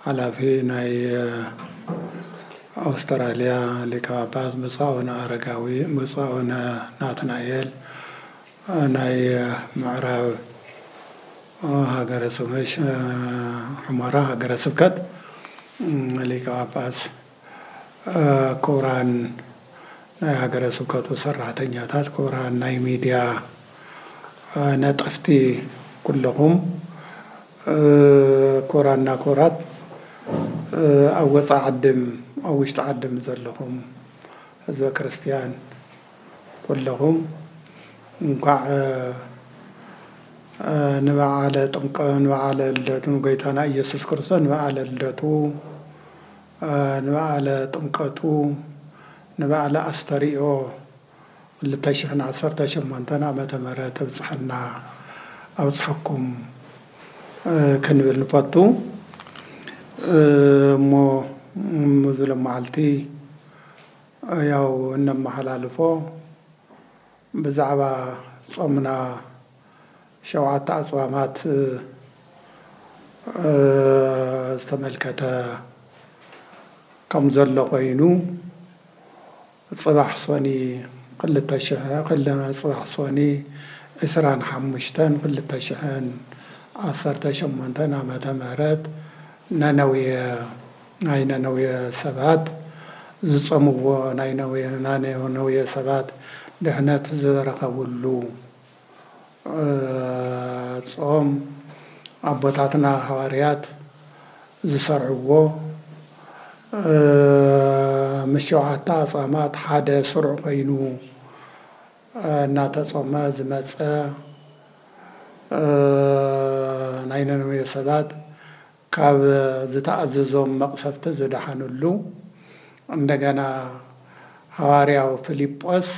ሓላፊ ናይ ኣውስተራልያ ሊቀ ጳጳስ ብፁዕ ኣቡነ ኣረጋዊ፣ ብፁዕ ኣቡነ ናትናኤል፣ ናይ ምዕራብ ሃገረ ሑመራ ሃገረ ስብከት ሊቀ ጳጳስ፣ ክቡራን ናይ ሃገረ ስብከቱ ሰራሕተኛታት፣ ክቡራን ናይ ሚድያ ነጠፍቲ ኩለኹም፣ ክቡራንና ክቡራት ኣብ ወፃኢ ዓድም ኣብ ውሽጢ ዓድም ዘለኹም ህዝበ ክርስትያን ኩለኹም እንኳዕ ንበዓለ ጥምቀ ንበዓለ ልደቱ ንጎይታና ኢየሱስ ክርስቶስ ንበዓለ ልደቱ ንበዓለ ጥምቀቱ ንበዓለ ኣስተርእዮ ክልተ ሽሕን ዓሰርተ ሸሞንተን ዓመተ ምህረት እብጽሕና ኣብጽሐኩም ክንብል ንፈቱ እሞ እዚ ሎማዓልቲ ያው እነመሓላልፎ ብዛዕባ ጾምና ሸውዓተ ኣፅዋማት ዝተመልከተ ከምዘሎ ኮይኑ ፅባሕ ሶኒ ክልተ ሽሕን ፅባሕ ሶኒ ዕስራን ሓሙሽተን ክልተ ሽሕን ዓሰርተ ሸሞንተን ዓመተ ምህረት ነነዌ ናይ ነነዌ ሰባት ዝፀምዎ ናይ ነነዌ ሰባት ድሕነት ዝረኸብሉ ጾም ኣቦታትና ሃዋርያት ዝሰርዕዎ ምስ ሸውዓተ ኣጽዋማት ሓደ ስሩዕ ኮይኑ እናተጾመ ዝመጸ ናይ ነነዌ ሰባት ካብ ዝተኣዘዞም መቅሰፍቲ ዝደሓንሉ እንደገና ሃዋርያው ፍሊጶስ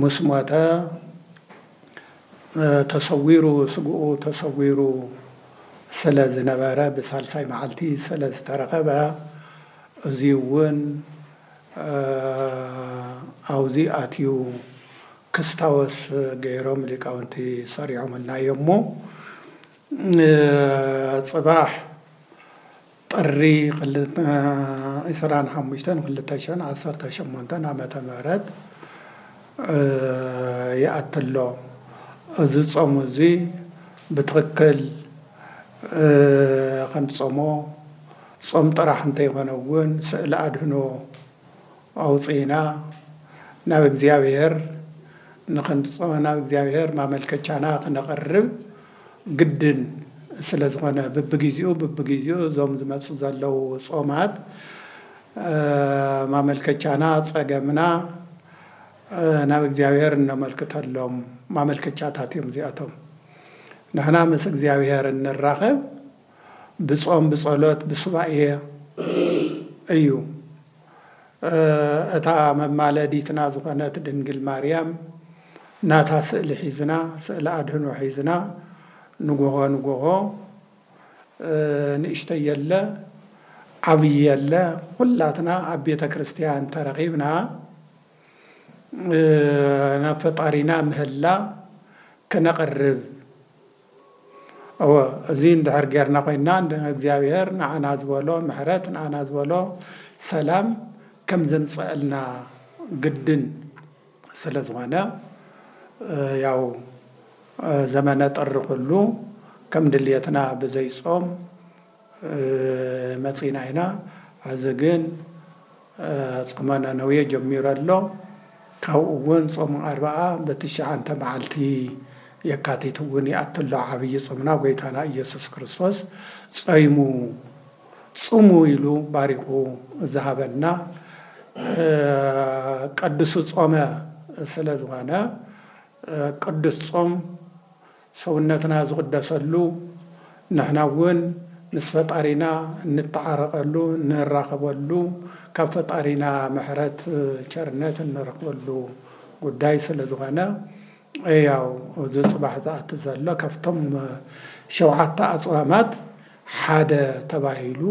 ምስ ሞተ ተሰዊሩ ስግኡ ተሰዊሩ ስለ ዝነበረ ብሳልሳይ መዓልቲ ስለ ዝተረኸበ እዚ እውን ኣብዚ ኣትዩ ክስታወስ ገይሮም ሊቃውንቲ ሰሪዖምልና እዮም እሞ ፅባሕ ጥሪ ዕስራን ሓሙሽተን ክልተ ሽሕን ዓሰርተ ሸሞንተን ዓመተ ምህረት ይኣቲ ኣሎ። እዚ ጾም እዚ ብትኽክል ክንጾሞ ጾም ጥራሕ እንተይኮነ እውን ስእለ ኣድህኖ ኣውጺእና ናብ እግዚኣብሔር ናብ እግዚኣብሔር ማመልከቻና ክነቕርብ ግድን ስለ ዝኾነ ብብጊዚኡ ብብጊዚኡ እዞም ዝመጹ ዘለዉ ጾማት ማመልከቻና ጸገምና ናብ እግዚኣብሔር እነመልክተሎም ማመልከቻታት እዮም እዚኣቶም ንሕና ምስ እግዚኣብሔር እንራኸብ ብጾም ብጸሎት ብሱባኤ እዩ። እታ መማለዲትና ዝኾነት ድንግል ማርያም ናታ ስእሊ ሒዝና ስእሊ ኣድህኖ ሒዝና ንጎሆ ንጎሆ ንእሽተይ የለ ዓብይ የለ ኩላትና ኣብ ቤተ ክርስቲያን ተረኺብና ናብ ፈጣሪና ምህላ ክነቕርብ እወ እዚ እንድሕር ጌርና ኮይንና እንደ እግዚኣብሔር ንዓና ዝበሎ ምሕረት ንዓና ዝበሎ ሰላም ከም ዘምጸእልና ግድን ስለ ዝኾነ ያው ዘመነ ጥሪ ኩሉ ከም ድልየትና ብዘይ ጾም መጺና ኢና ሐዚ ግን ጾመ ነነዌ ጀሚሩ ኣሎ ካብኡ እውን ጾመ ኣርብዓ በትሽዓንተ መዓልቲ የካቲት እውን ይኣቱ ኣሎ ዓብዪ ጾምና ጎይታና ኢየሱስ ክርስቶስ ጾይሙ ጽሙ ኢሉ ባሪኹ ዝሃበና ቅዱስ ጾመ ስለ ዝኾነ ቅዱስ ጾም ሰውነትና ዝቕደሰሉ፣ ንሕና እውን ምስ ፈጣሪና እንተዓረቐሉ፣ እንራኸበሉ፣ ካብ ፈጣሪና ምሕረት ቸርነት እንረኽበሉ ጉዳይ ስለ ዝኾነ ያው እዚ ፅባሕ ዝኣቲ ዘሎ ካብቶም ሸውዓተ ኣፅዋማት ሓደ ተባሂሉ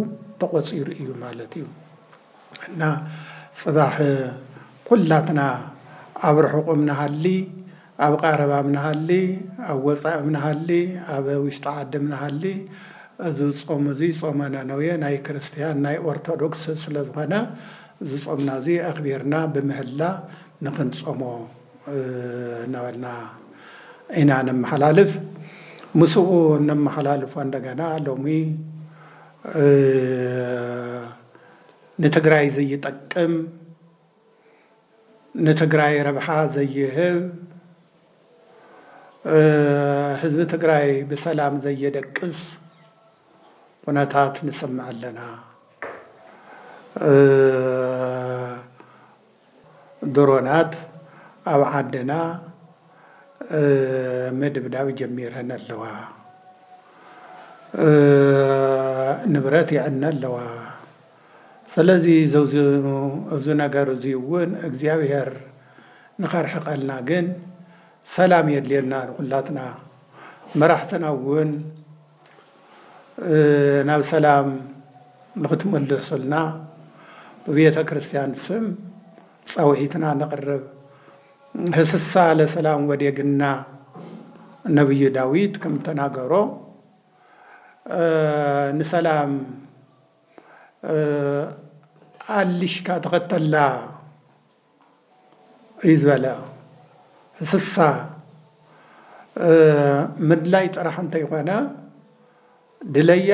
ተቖፂሩ እዩ ማለት እዩ። እና ፅባሕ ኹላትና ኣብ ርሑቅም ንሃሊ ኣብ ቃረባም ንሃሊ ኣብ ወፃእም ንሃሊ ኣብ ውሽጢ ዓድም ንሃሊ እዙ ፆም እዙይ ፆመ ነነዌ ናይ ክርስትያን ናይ ኦርቶዶክስ ስለ ዝኾነ እዙ ፆምና እዙይ ኣኽቢርና ብምህላ ንኽንፆሞ እናበልና ኢና ነመሓላልፍ። ምስኡ እነመሓላልፎ እንደገና ሎሚ ንትግራይ ዘይጠቅም ንትግራይ ረብሓ ዘይህብ ህዝቢ ትግራይ ብሰላም ዘየደቅስ ኩነታት ንሰምዕ ኣለና። ድሮናት ኣብ ዓድና ምድብዳብ ጀሚረን ኣለዋ፣ ንብረት የዕነ ኣለዋ። ስለዚ እዚ ነገር እዚ እውን እግዚኣብሔር ንኸርሕቀልና ግን ሰላም የድልየና ንኹላትና። መራሕትና እውን ናብ ሰላም ንክትምለሱልና ብቤተ ክርስቲያን ስም ጸውዒትና ነቕርብ። ህስሳ ለሰላም ወዴግና ነብዩ ዳዊት ከም ተናገሮ ንሰላም ኣልሽካ ተኸተላ እዩ ዝበለ። እንስሳ ምድላይ ጥራሕ እንተይኮነ ድለያ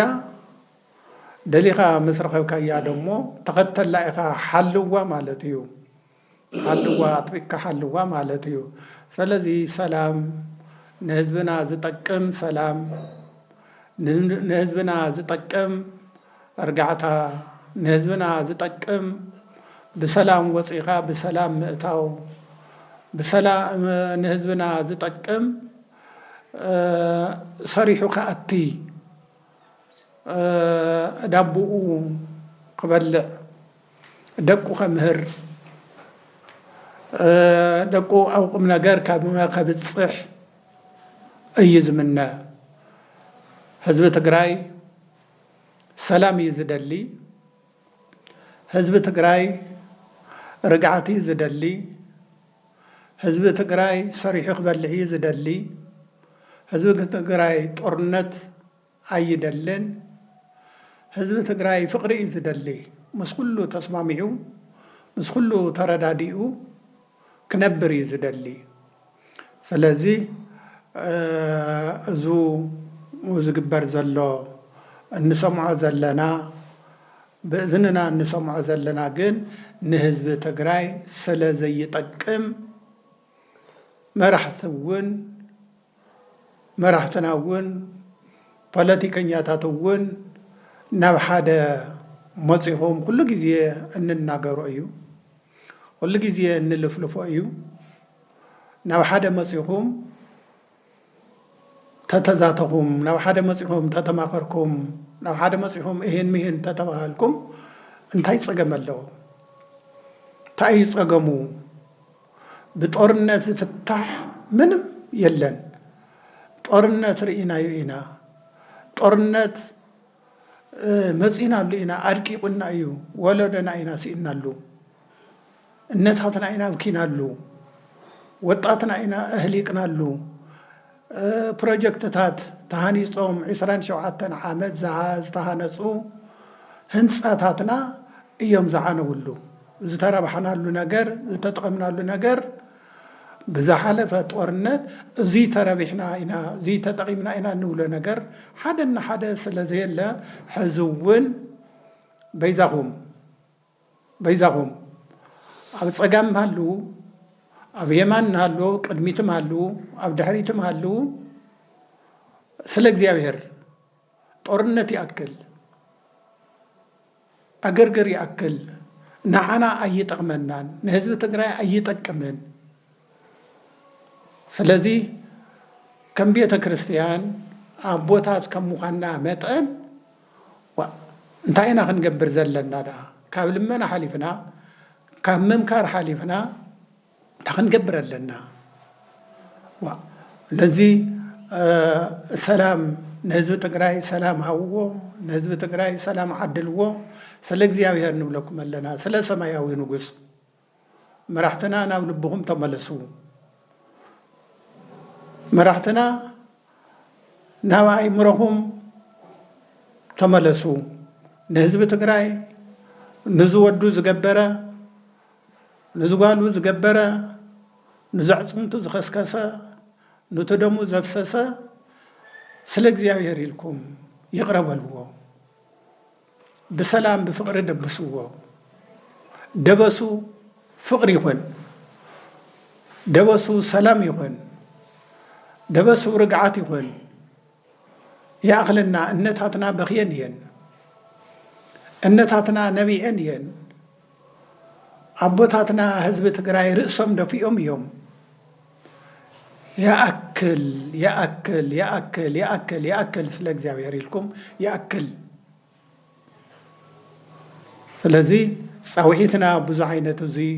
ደሊኻ ምስ ረኸብካያ ደሞ ተኸተላ ኢኻ ሓልዋ ማለት እዩ። ሓልዋ ኣጥቢቅካ ሓልዋ ማለት እዩ። ሰለዚ ሰላም ንህዝብና ዝጠቅም ሰላም ንህዝብና ዝጠቅም እርጋዕታ ንህዝብና ዝጠቅም ብሰላም ወፂእኻ ብሰላም ምእታው ብሰላ ንህዝብና ዝጠቅም ሰሪሑ ክኣቲ ዳቡኡ ክበልዕ ደቁ ከምህር ደቁ ኣብ ቁምነገር ከብፅሕ እዩ ዝምነ ህዝቢ ትግራይ። ሰላም እዩ ዝደሊ ህዝቢ ትግራይ ርግዓት እዩ ዝደሊ ህዝቢ ትግራይ ሰሪሑ ክበልዕ እዩ ዝደሊ ህዝቢ ትግራይ ጦርነት ኣይደልን ህዝቢ ትግራይ ፍቅሪ እዩ ዝደሊ ምስ ኩሉ ተስማሚዑ ምስ ኩሉ ተረዳዲኡ ክነብር እዩ ዝደሊ ስለዚ እዙ ዝግበር ዘሎ እንሰምዖ ዘለና ብእዝንና እንሰምዖ ዘለና ግን ንህዝቢ ትግራይ ስለ ዘይጠቅም መራሕቲ እውን መራሕትና እውን ፖለቲከኛታት እውን ናብ ሓደ መፂኹም ኩሉ ግዜ እንናገሮ እዩ። ኩሉ ግዜ እንልፍልፎ እዩ። ናብ ሓደ መጺኹም ተተዛተኹም፣ ናብ ሓደ መጺኹም ተተማኸርኩም፣ ናብ ሓደ መጺኹም እሂን ምሂን ተተባሃልኩም እንታይ ጸገም ኣለዎ? እንታይ እዩ ጸገሙ? ብጦርነት ዝፍታሕ ምንም የለን። ጦርነት ርኢናዮ ኢና። ጦርነት መጺእናሉ ኢና፣ ኣድቂቑና እዩ፣ ወለዶና ኢና ስኢንናሉ። እነታትና ኢና ኣብኪናሉ፣ ወጣትና ኢና ኣህሊቅናሉ፣ ፕሮጀክትታት ተሃኒፆም ዕስራን ሸውዓተን ዓመት ዝተሃነፁ ህንፃታትና እዮም ዝዓነውሉ። ዝተረባሕናሉ ነገር፣ ዝተጠቐምናሉ ነገር ብዝሓለፈ ጦርነት እዙይ ተረቢሕና ኢና፣ እዙይ ተጠቒምና ኢና እንብሎ ነገር ሓደ እንሓደ ስለዘየለ ሕዚ እውን በይዛኹም፣ በይዛኹም ኣብ ጸጋም ሃልዉ፣ ኣብ የማን ሃልዉ፣ ኣብ ቅድሚትም ሃልዉ፣ ኣብ ድሕሪትም ሃልዉ፣ ስለ እግዚኣብሔር ጦርነት ይኣክል፣ ዕግርግር ይኣክል፣ ንዓና ኣይጠቕመናን፣ ንህዝቢ ትግራይ ኣይጠቅምን። ስለዚ ከም ቤተ ክርስቲያን ኣቦታት ከም ምዃንና መጠን ዋእ እንታይ ኢና ክንገብር ዘለና ደኣ ካብ ልመና ሓሊፍና ካብ ምምካር ሓሊፍና እንታይ ክንገብር ኣለና ዋእ ነዚ ሰላም ንህዝቢ ትግራይ ሰላም ሃብዎ ንህዝቢ ትግራይ ሰላም ዓድልዎ ስለ እግዚኣብሔር ንብለኩም ኣለና ስለ ሰማያዊ ንጉስ መራሕትና ናብ ልብኹም ተመለሱ መራሕትና ናብ ኣይምረኹም ተመለሱ ንህዝቢ ትግራይ ንዝወዱ ዝገበረ ንዝጓሉ ዝገበረ ንዘዕፅምቱ ዝኸስከሰ ኑቲ ደሙ ዘፍሰሰ ስለ እግዚኣብሔር ኢልኩም ይቕረ በልዎ ብሰላም ብፍቅሪ ደብስዎ ደበሱ ፍቅሪ ይኹን ደበሱ ሰላም ይኹን ደበሱ ርግዓት ይኹን ይኣኽለና እነታትና በኽየን እየን እነታትና ነቢዐን እየን። ኣቦታትና ህዝቢ ትግራይ ርእሶም ደፊኦም እዮም። ይኣክል ይኣክል ይኣክል ይኣክል ይኣክል ስለ እግዚኣብሔር ኢልኩም ይኣክል። ስለዚ ፃውዒትና ብዙ ዓይነት እዙይ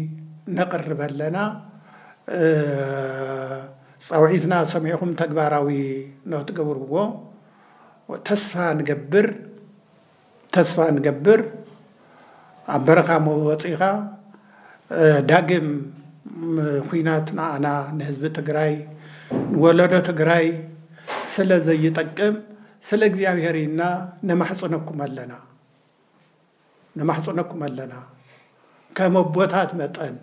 ነቕርብ ኣለና። ፃውዒትና ሰሚዕኹም ተግባራዊ ንክትገብርዎ ተስፋ ንገብር። ተስፋ ንገብር ኣብ በረኻ ወፂእኻ ዳግም ኹናት ንዓና ንህዝቢ ትግራይ ንወለዶ ትግራይ ስለ ዘይጠቅም ስለ እግዚኣብሔር ኢልና ነማሕፅነኩም ኣለና ነማሕፅነኩም ኣለና ከም ኣቦታት መጠን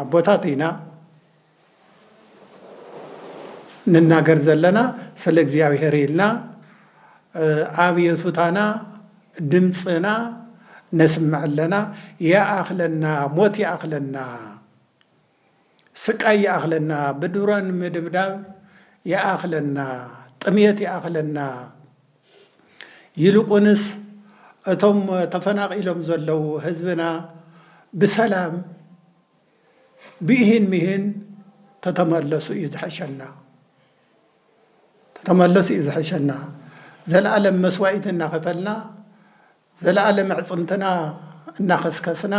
ኣቦታት ኢና ንናገር ዘለና ስለ እግዚኣብሔር ኢልና ኣብዮቱታና ድምፅና ነስምዕ ኣለና ይኣኽለና ሞት ይኣኽለና ስቃይ ይኣኽለና ብድሮን ምድብዳብ ይኣኽለና ጥምየት ይኣኽለና ይልቁንስ እቶም ተፈናቒሎም ዘለዉ ህዝብና ብሰላም ብኢሂን ምሂን ተተመለሱ እዩ ዝሐሸና ተተመለሱ እዩ ዝሐሸና ዘለኣለም መስዋኢት እናኸፈልና ዘለኣለም ኣዕፅምትና እናኸስከስና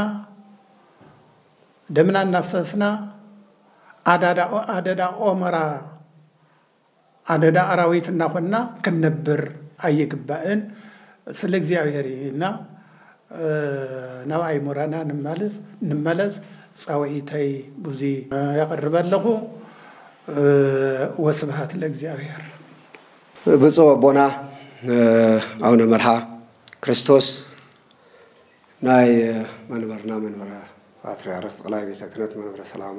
ደምና እናፍሰስና ኣደዳ ኦመራ ኣደዳ ኣራዊት እናኾንና ክንነብር ኣይግባእን። ስለ እግዚኣብሔር ኢልና ናብ ኣይሙረና ንመለስ ፃውዒተይ ቡዙይ የቅርብ ኣለኹ። ወስብሃት ለእግዚኣብሔር። ብፁዕ ኣቦና ኣውነ መርሃ ክርስቶስ ናይ መንበርና መንበረ ፓትርያርክ ጠቅላይ ቤተ ክህነት መንበረ ሰላማ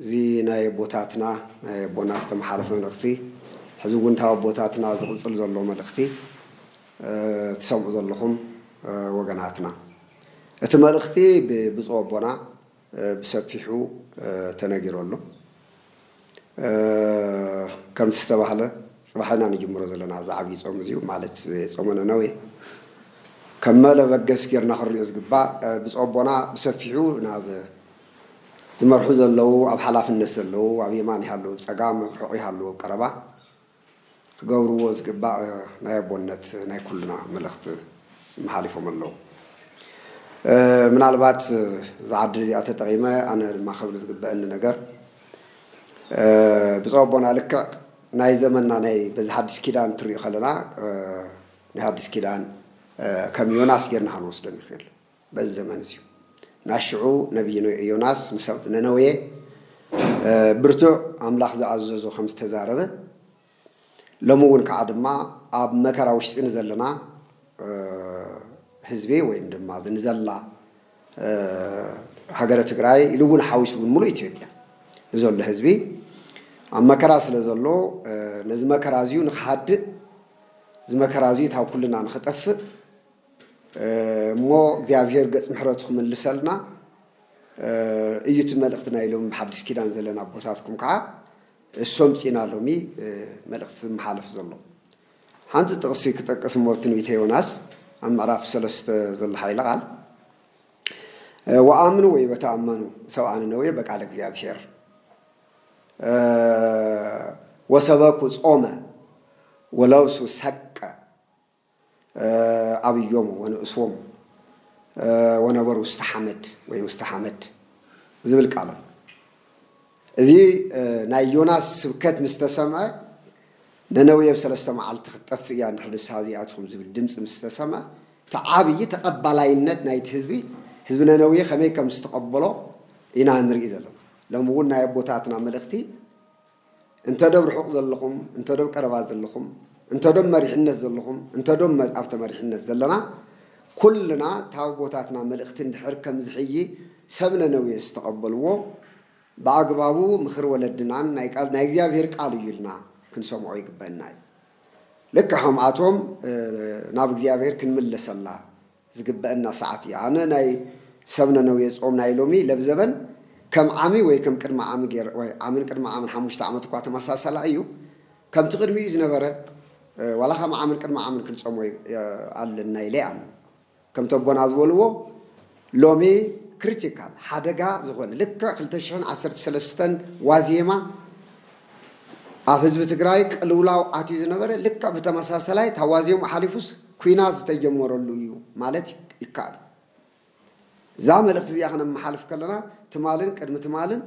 እዚ ናይ ኣቦታትና ናይ ኣቦና ዝተመሓለፈ መልእኽቲ ሕዚ እውን ካብ ኣቦታትና ዝቕፅል ዘሎ መልእኽቲ ትሰምዑ ዘለኹም ወገናትና እቲ መልእኽቲ ብብፁእ ኣቦና ብሰፊሑ ተነጊሩ ኣሎ ከምቲ ዝተባህለ ፅባሕ ኢና ንጅምሮ ዘለና እዚ ዓብዪ ፆም እዚዩ ማለት ፆመ ነነዌ ከም መለበገስ ጌርና ክንሪኦ ዝግባእ ብፁእ ኣቦና ብሰፊሑ ናብ ዝመርሑ ዘለዉ ኣብ ሓላፍነት ዘለዉ ኣብ የማን ይሃልዉ ኣብ ጸጋም ኣብ ርሑቕ ይሃልዉ ኣብ ቀረባ ክገብርዎ ዝግባእ ናይ ኣቦነት ናይ ኩልና መልእኽቲ መሓሊፎም ኣለዉ። ምናልባት እዛ ዕድል እዚኣ ተጠቒመ ኣነ ድማ ክብል ዝግበኣኒ ነገር ብጹእ ኣቦና ልክዕ ናይ ዘመንና ናይ በዚ ሓድሽ ኪዳን እንትሪኡ ከለና ናይ ሓድሽ ኪዳን ከም ዮናስ ጌርና ክንወስዶ ንኽእል። በዚ ዘመን እዚዩ ናይ ሽዑ ነብዪ ዮናስ ንሰብ ነነዌ ብርቱዕ ኣምላኽ ዝኣዘዞ ከም ዝተዛረበ ሎሚ እውን ከዓ ድማ ኣብ መከራ ውሽጢ ንዘለና ህዝቢ ወይም ድማ ኣብ ንዘላ ሃገረ ትግራይ ኢሉ እውን ሓዊሱ እውን ሙሉእ ኢትዮጵያ ንዘሎ ህዝቢ ኣብ መከራ ስለ ዘሎ ነዚ መከራ እዚዩ ንክሃድእ እዚ መከራ እዚዩ ካብ ኩልና ንክጠፍእ እሞ እግዚኣብሔር ገጽ ምሕረቱ ክምልሰልና እዩ እቲ መልእኽቲ ናይ ሎሚ ብሓድሽ ኪዳን ዘለና ኣቦታትኩም ከዓ እሶም ጺና ሎሚ መልእኽቲ ዝመሓለፍ ዘሎ ሓንቲ ጥቕሲ ክጠቅስ እሞ ትንቢተ ዮናስ ኣብ ምዕራፍ ሰለስተ ዘሎ ሓይለ ቃል ወኣምኑ ወይ በተኣመኑ ሰብኣ ነነዌ በቃለ እግዚኣብሔር ወሰበኩ ጾመ ወለብሱ ሰቀ ኣብዮሙ ወንእስዎሙ ወነበሩ ውስተ ሓመድ ወይ ውስተ ሓመድ ዝብል ቃል ኣሎ። እዚ ናይ ዮናስ ስብከት ምስ ተሰምዐ ነነዌ ኣብ ሰለስተ መዓልቲ ክትጠፍእ እያ እንድሕር ንስሓ ዘይኣትኹም ዝብል ድምፂ ምስ ተሰምዐ እቲ ዓብዪ ተቐባላይነት ናይቲ ህዝቢ ህዝቢ ነነዌ ከመይ ከም ዝተቐበሎ ኢና ንርኢ ዘለና። ሎሚ እውን ናይ ኣቦታትና መልእኽቲ እንተ ዶብ ርሑቕ ዘለኹም፣ እንተ ዶብ ቀረባ ዘለኹም፣ እንተ ዶብ መሪሕነት ዘለኹም፣ እንተ ዶብ ኣብ ተመሪሕነት ዘለና፣ ኩልና ታብ ቦታትና መልእኽቲ እንድሕር ከም ዝሕይ ሰብ ነነዌ ዝተቐበልዎ፣ ብኣግባቡ ምኽሪ ወለድናን ናይ ቃል ናይ እግዚኣብሄር ቃል እዩ ኢልና ክንሰምዖ ይግበእና እዩ። ልክዕ ከምኣቶም ናብ እግዚኣብሄር ክንምለሰላ። ዝግበእና ሰዓት እዩ ኣነ ናይ ሰብ ነነዌ ጾም ናይ ሎሚ ለብዘበን ከም ዓሚ ወይ ከም ቅድሚ ዓሚ ገይረ ዋይ ዓምን ቅድሚ ዓምን ሓሙሽተ ዓመት እኳ ተመሳሳላ እዩ ከምቲ ቅድሚኡ ዝነበረ ዋላ ከም ዓምን ቅድሚ ዓምን ክንጾሞ ኣለና ኢለ ይኣምን ከምቲ ኣቦና ዝበልዎ ሎሚ ክሪቲካል ሓደጋ ዝኾነ ልክዕ ክልተ ሽሕን ዓሰርተ ሰለስተን ዋዜማ ኣብ ህዝቢ ትግራይ ቅልውላው ኣትዩ ዝነበረ ልክዕ ብተመሳሳላይ ታዋዜሙ ሓሊፉስ ኲናት ዝተጀመረሉ እዩ ማለት ይከኣል እዩ። እዛ መልእኽቲ እዚኣ ከነመሓልፍ ከለና ትማልን ቅድሚ ትማልን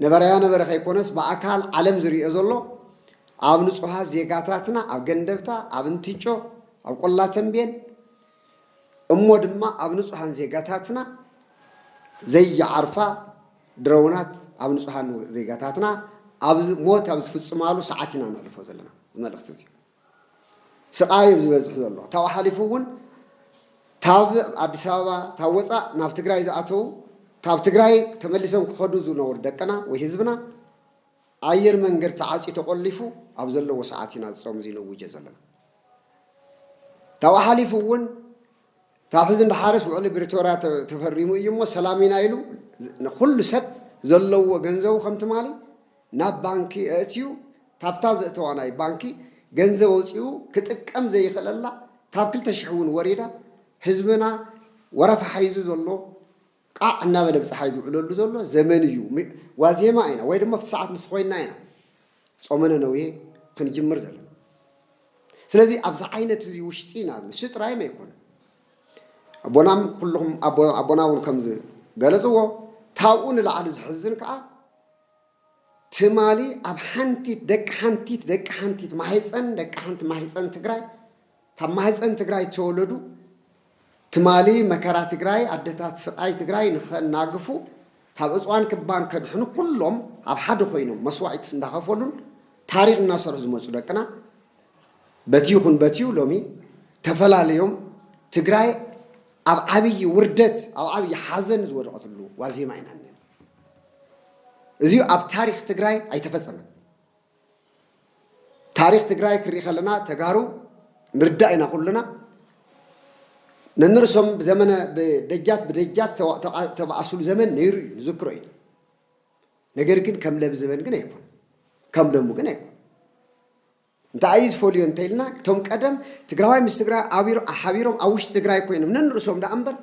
ነበረያ ነበረ ከይኮነስ ብኣካል ዓለም ዝርኦ ዘሎ ኣብ ንጹሃት ዜጋታትና ኣብ ገንደብታ፣ ኣብ እንትጮ፣ ኣብ ቆላ ተምቤን እሞ ድማ ኣብ ንጹሃን ዜጋታትና ዘይዓርፋ ድሮናት ኣብ ንጹሃን ዜጋታትና ሞት ኣብ ዝፍጽማሉ ሰዓት ኢና ነሕልፎ ዘለና እዚ መልእኽቲ እዚ። ስቓይ እዩ ዝበዝሕ ዘሎ። ካብኡ ሓሊፉ እውን ካብ ኣዲስ ኣበባ ካብ ወፃእ ናብ ትግራይ ዝኣተዉ ካብ ትግራይ ተመሊሶም ክኸዱ ዝነበሩ ደቅና ወይ ህዝብና ኣየር መንገድ ተዓፅዩ ተቖሊፉ ኣብ ዘለዎ ሰዓት ኢና እዚ ፆም እዚ ነውጆ ዘለና። ካብኡ ሓሊፉ እውን ካብ ሕዚ ንደሓርስ ውዕሊ ብሪቶርያ ተፈሪሙ እዩ እሞ ሰላም ኢና ኢሉ ንኹሉ ሰብ ዘለዎ ገንዘቡ ከም ትማሊ ናብ ባንኪ ኣእትዩ ካብታ ዘእተዋ ናይ ባንኪ ገንዘብ ኣውፂኡ ክጥቀም ዘይኽእለላ ካብ ክልተ ሽሕ እውን ወሪዳ ህዝብና ወረፋ ሓይዙ ዘሎ ቃዕ እናበለ ብፀሓይ ዝውዕለሉ ዘሎ ዘመን እዩ። ዋዜማ ኢና ወይ ድማ ኣብቲ ሰዓት ንሱ ኮይንና ኢና ፆመ ነነዌ ክንጅምር ዘለና። ስለዚ ኣብዚ ዓይነት እዚ ውሽጢ ኢና ንሱ ጥራይም ኣይኮነን። ኣቦና ኩልኹም ኣቦና እውን ከም ዝገለፅዎ ካብኡ ንላዕሊ ዘሕዝን ከዓ ትማሊ ኣብ ሓንቲት ደቂ ሓንቲት ደቂ ሓንቲት ማህፀን ደቂ ሓንቲ ማህፀን ትግራይ ካብ ማህፀን ትግራይ ዝተወለዱ ትማሊ መከራ ትግራይ ኣደታት ስቓይ ትግራይ ንኸናግፉ ካብ እፅዋን ክባን ከድሕኑ ኩሎም ኣብ ሓደ ኮይኖም መስዋዒት እንዳኸፈሉን ታሪኽ እናሰርሑ ዝመፁ ደቅና በቲ ይኹን በቲዩ ሎሚ ተፈላለዮም ትግራይ ኣብ ዓብዪ ውርደት ኣብ ዓብዪ ሓዘን ዝወደቐትሉ ዋዜማ ኢና እዙይ ኣብ ታሪክ ትግራይ ኣይተፈፀመን። ታሪክ ትግራይ ክርኢ ከለና ተጋሩ ንርዳእ ኢና ኩልና ነንርሶም ብዘመነ ብደጃት ብደጃት ተባኣሱሉ ዘመን ነይሩ እዩ ንዝክሮ እዩ ነገር ግን ከም ለብ ዘበን ግን ኣይኮነ ከም ለሙ ግን ኣይኮነ እንታይ እዩ ዝፈልዮ እንተይልና እቶም ቀደም ትግራዋይ ምስ ትግራይ ኣቢሮ ሓቢሮም ኣብ ውሽጢ ትግራይ ኮይኖም ነንርእሶም ደኣ እምበር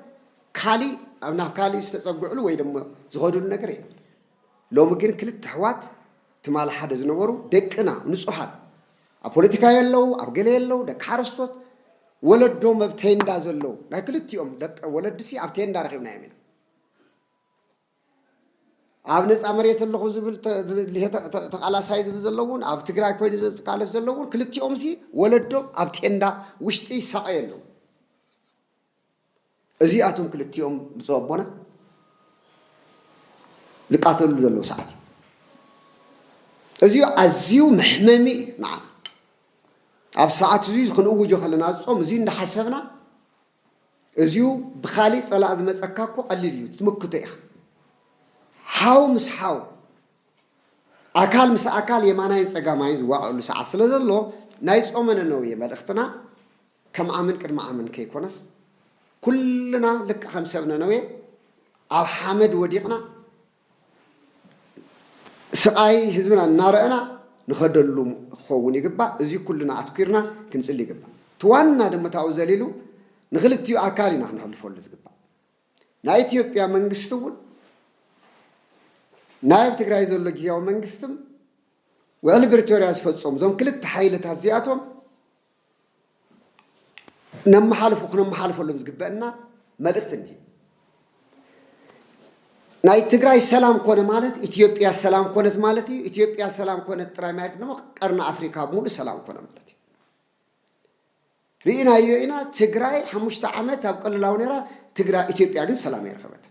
ካሊእ ኣብ ናብ ካሊእ ዝተፀግዕሉ ወይ ድማ ዝኸድሉ ነገር የለን። ሎሚ ግን ክልተ ኣሕዋት ትማል ሓደ ዝነበሩ ደቅና ንፁሃት ኣብ ፖለቲካ የለው ኣብ ገለ የለው ደቂ ሓረስቶት ወለዶም ኣብ ቴንዳ ዘለው ናይ ክልቲኦም ደቂ ወለድሲ ኣብ ቴንዳ ረኺብናዮም ኢና። ኣብ ነፃ መሬት ኣለኹ ዝብል ተቓላሳይ ዝብል ዘሎ እውን ኣብ ትግራይ ኮይኑ ዝቃለስ ዘሎ እውን ክልቲኦምሲ ወለዶም ኣብ ቴንዳ ውሽጢ ይሳቐዩ ኣለዉ። እዚኣቶም ክልቲኦም ብፁዕ ኣቦና ዝቃተልሉ ዘለዉ ሰዓት እዩ። እዚዩ ኣዝዩ መሕመሚ እዩ ንዓና። ኣብ ሰዓት እዙይ ክንእውጆ ከለና ጾም እዙይ እንዳሓሰብና እዚዩ ብካሊእ ፀላእ ዝመፀካ እኮ ቀሊል እዩ ትምክቶ ኢካ ሓው ምስ ሓው ኣካል ምስ ኣካል የማናይን ፀጋማይን ዝዋቀዕሉ ሰዓት ስለዘሎ ናይ ፆመ ነነውየ መልእክትና ከም ኣምን ቅድሚ ኣምን ከይኮነስ ኩልና ልክዕ ከም ሰብ ነነውየ ኣብ ሓመድ ወዲቅና ስቓይ ህዝብና እናረእና ንኸደሉ ክኸውን ይግባእ። እዚ ኩልና ኣትኲርና ክንጽሊ ይግባእ። እቲ ዋና ድማ ታብኡ ዘሊሉ ንክልቲኡ ኣካል ኢና ክነሕልፈሉ ዝግባእ። ናይ ኢትዮጵያ መንግስቲ'ውን ናይ ኣብ ትግራይ ዘሎ ግዝያዊ መንግስቲም ውዕሊ ብሪቶርያ ዝፈጸሙ እዞም ክልተ ሓይልታት እዚኣቶም ነመሓልፉ ክነመሓልፈሎም ዝግበእና መልእኽቲ እኒሀ። ናይ ትግራይ ሰላም ኮነ ማለት ኢትዮጵያ ሰላም ኮነት ማለት እዩ። ኢትዮጵያ ሰላም ኮነት ጥራይ ማለት ድማ ቀርኒ ኣፍሪካ ሙሉእ ሰላም ኮነ ማለት እዩ። ርኢናዮ ኢና ትግራይ ሓሙሽተ ዓመት ኣብ ቀልላው ነይራ፣ ትግራይ ኢትዮጵያ ግን ሰላም ኣይረኸበትን።